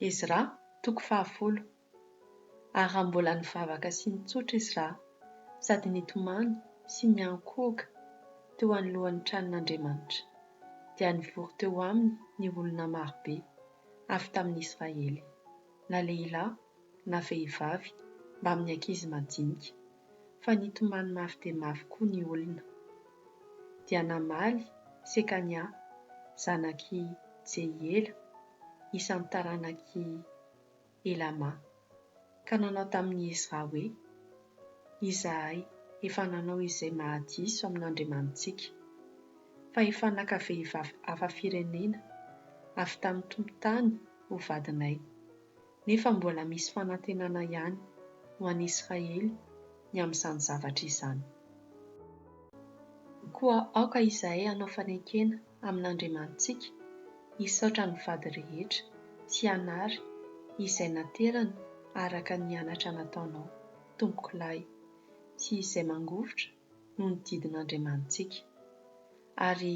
Ezra, toko fahafolo. Ary raha mbola nivavaka sy nitsotra Ezra, sady nitomany sy niankohoka teo anoloan'ny tranon'Andriamanitra, dia nivory teo aminy ny olona marobe avy tamin'ny Israely, na lehilahy na vehivavy mbamin'ny ankizy madinika. fa nitomany mafy dia mafy koa ny olona. Dia namaly Sekania, zanak'i Jehiela, isan'ny taranak'i Helama, ka nanao tamin'i Ezra hoe, Izahay efa nanao izay mahadiso amin'Andriamanitsika, fa efa naka vehivavy hafa firenena avy tamin'ny tompon-tany ho vadinay, nefa mbola misy fanantenana ihany ho an'i Israely ny amin'izany zavatra izany. Koa aoka izahay hanao fanekena amin'Andriamanitsika hisaotra ny vady rehetra sy hanary izay naterany araka ny anatra nataonao, Tompokolahy, sy izay mangovitra noho ny didin'Andriamanitsika. Ary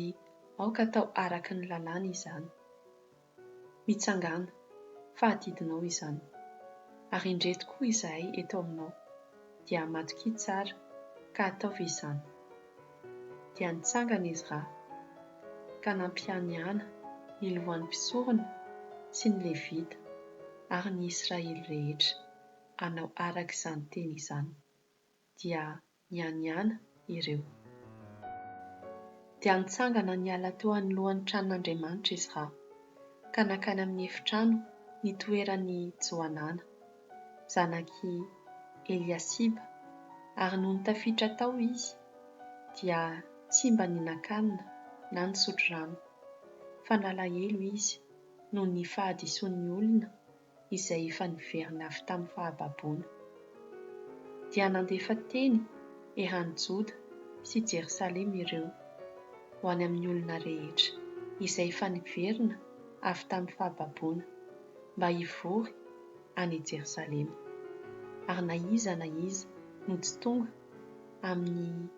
aoka atao araka ny lalàna izany. Mitsangàna, fa adidinao izany. Ary indreto koa izahay eto aminao, dia amatokia tsara, ka ataovy izany. Dia nitsangana izy ra, ka nampianiana ny lohan'ny mpisorona sy ny Levita ary ny Israely rehetra hanao araka izany teny izany, dia nianiana ireo. Dia nitsangana niala teo anoloan'ny tranon'Andriamanitra Ezra, ka nankany amin'ny efitrano nitoeran'i Johanana, zanak'i Eliasiba, ary nony tafiditra tao izy, dia tsy mba nihinan-kanina na nisotro rano, fa nalahelo izy noho ny fahadisoan'ny olona izay efa niverina avy tamin'ny fahababoana. Dia nandefa teny eran'i Joda sy Jerosalema ireo ho any amin'ny olona rehetra izay efa niverina avy tamin'ny fahababoana mba hivory any Jerosalema, ary na iza na iza no tsy tonga amin'ny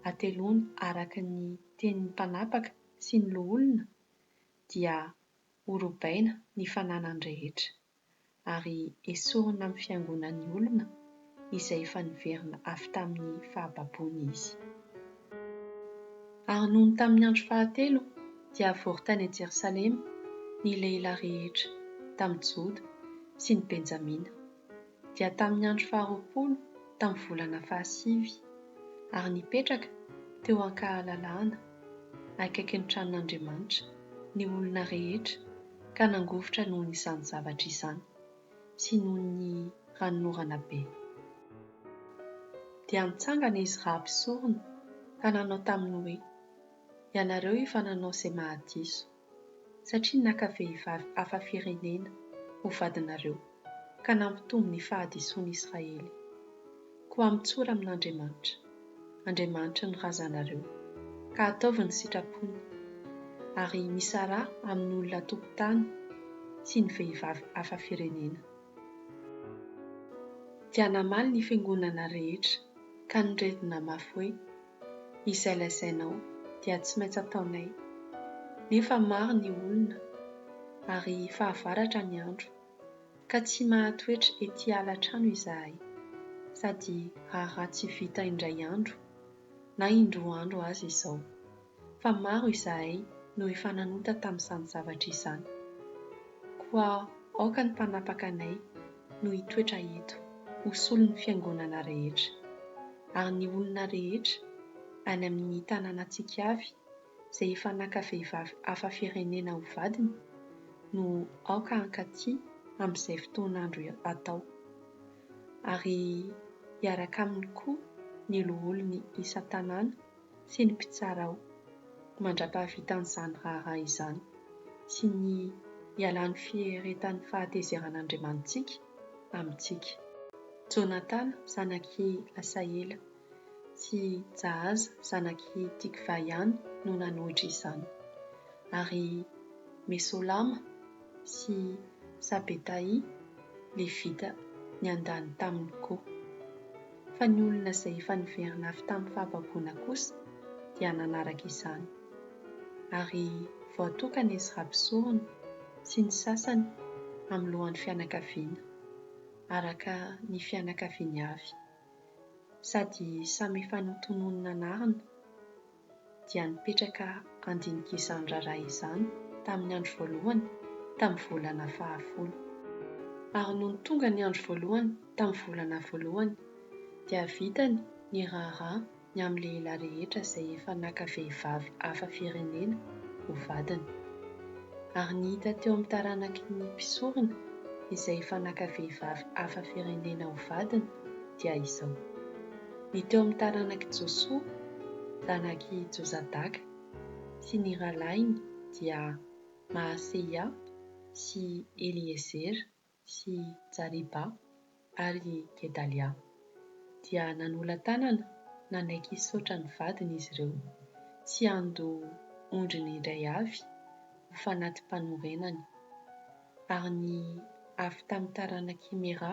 hateloany araka ny tenin'ny mpanapaka sy ny loholona dia ho robaina ny fananany rehetra, ary esorina amin'ny fiangonan'ny olona izay efa niverina avy tamin'ny fahababoany izy. Ary nony tamin'ny andro fahatelo dia avory tany an-Jerosalema ny lehilahy rehetra tamin'i Joda sy ny Benjamina. dia tamin'ny andro faharoapolo tamin'ny volana fahasivy, ary nipetraka teo an-kahalalahana, akaikin'ny tranon'Andriamanitra, ny olona rehetra, ka nangovitra noho izany zavatra izany, sy noho ny ranonorana be. Dia nitsangana izy raha mpisorona, ka nanao taminy hoe, Ianareo efa nanao izay mahadiso. satria naka vehivavy hafa firenena ho vadinareo ka nampitombo ny fahadisoan'i Israely. Koa mitsora amin'Andriamanitra, Andriamanitry ny razanareo, ka ataovy ny sitrapony, ary misaraha amin'ny olona an-tokotany sy ny vehivavy hafa firenena. Dia namaly ny fiangonana rehetra ka noredona mafy hoe. izay lazainao dia tsy maintsy ataonay, nefa maro ny olona ary fahavaratra ny andro, ka tsy mahatoetra ety ala-trano izahay, sady raharaha tsy vita indray andro na indroa andro aza izao, fa maro izahay no efa nanota tamin'izany zavatra izany. Koa aoka ny mpanapaka anay no hitoetra eto ho solon'ny fiangonana rehetra, ary ny olona rehetra any amin'ny tanànantsika avy izay efa naka vehivavy hafa firenena ho vadiny no aoka hankaty amin'izay fotoan'andro atao, ary hiaraka aminy koa ny loholony isan-tanàna sy ny mpitsara ao mandra-pahavitany izany raharaha izany sy ny hialan'ny fieritany fahatezeran' Andriamanitsika amintsika. Jonatana zanak' i Asaela sy Jahaza zanak' i Tikva ihany no nanohitra izany, ary Mesolama sy Sabetaia Levita niandany taminy koa. fa ny olona izay efa niverina avy tamin'ny fahababoana kosa dia nanaraka izany. Ary voatokana izy raha mpisorona sy ny sasany amin'ny lohan'ny fianakaviana, araka ny fianakaviany avy, sady samy efa notononina anarina, dia nipetraka handinika izany raharaha izany tamin'ny andro voalohany tamin'ny volana fahafolo. Ary nony tonga ny andro voalohany tamin'ny volana voalohany, dia vitany ny raharaha ny amin'ny lehilahy rehetra izay efa naka vehivavy hafa firenena ho vadiny. Ary ny hita teo amin'ny taranaky ny mpisorona izay efa naka vehivavy hafa firenena ho vadiny dia izao. ny teo amin'ny taranak'i Josoa, zanak'i Jozadaka, sy ny rahalahiny dia Maaseia sy Eliezera sy Jariba ary Gedalia. Dia nanolan-tanana nanaiky hisaotra ny vadiny izy ireo, sy handoa ondriny indray avy ho fanati-panorenany. Ary ny avy tamin'ny taranak'i Mera,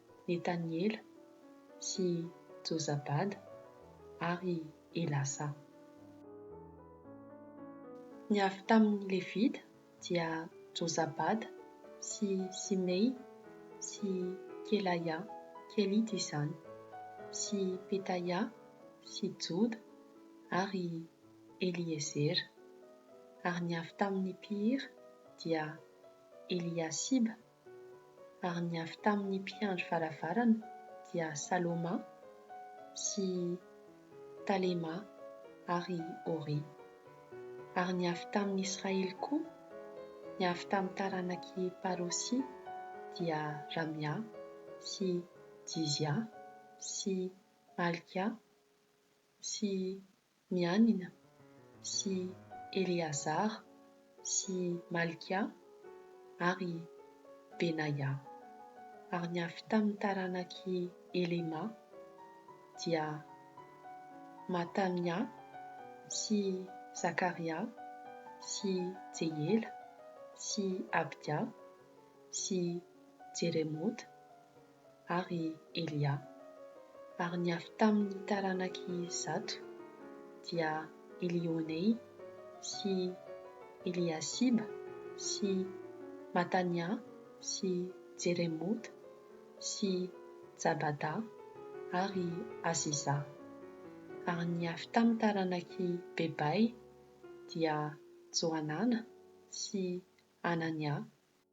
Netaniela sy Jozabada ary Elasa. Ny avy tamin' ny Levita dia Jozabada sy Simey sy Kelaia, Kelita izany, sy Petaia sy Joda ary Eliezera, ary ny avy tamin' ny mpihira dia Eliasiba Ary ny avy tamin' ny mpiandry varavarana dia Saloma sy Talema ary Ori. Ary ny avy tamin' ny Israely koa, ny avy tamin' ny taranak' i Parosy, dia Ramia sy Jizia sy Malkia sy Mianina sy Eleazara sy Malkia ary Benaia. Ary ny avy tamin' ny taranak' i Helema dia Matamia sy Zakaria sy Jehiela sy Abdia sy Jeremota ary Elia, ary ny avy tamin' ny taranak' i Zato dia Elioenay sy Eliasiba sy Matanià sy Jeremota sy Jabadà ary Azizà, ary ny avy tamin' ny taranak' i Bebay dia Johanàna sy Hananià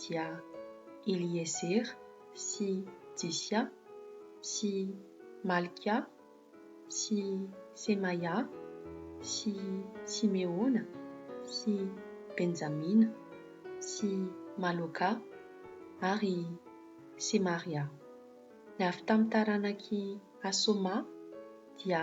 dia Eliezer sy Jisia sy Malkia sy Semaia sy Simeona sy Benjamina sy Maloka ary Semaria. Ny avy tamin'ny taranak'i Hasoma dia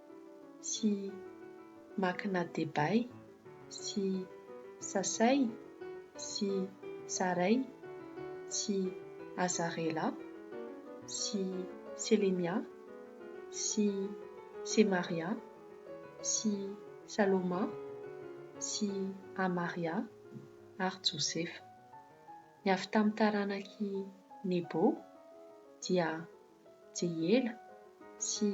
sy Makina Debay sy Sasay sy Saray sy Azarela sy Selemia sy Semaria sy Saloma sy Amaria ary Josefa. Ny avy tamin'ny taranak'i Nebo dia. Jeyela sy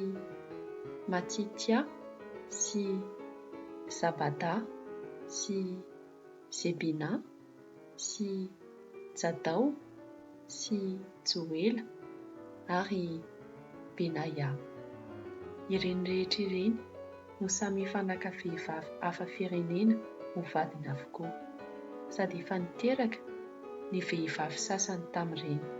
Matitia sy Zabada sy Zebina sy Jadao sy Joela ary Benaia. Ireny rehetra ireny. no samy efa naka vehivavy hafa firenena ho vadiny avokoa, sady efa niteraka ny vehivavy sasany tamin'ireny.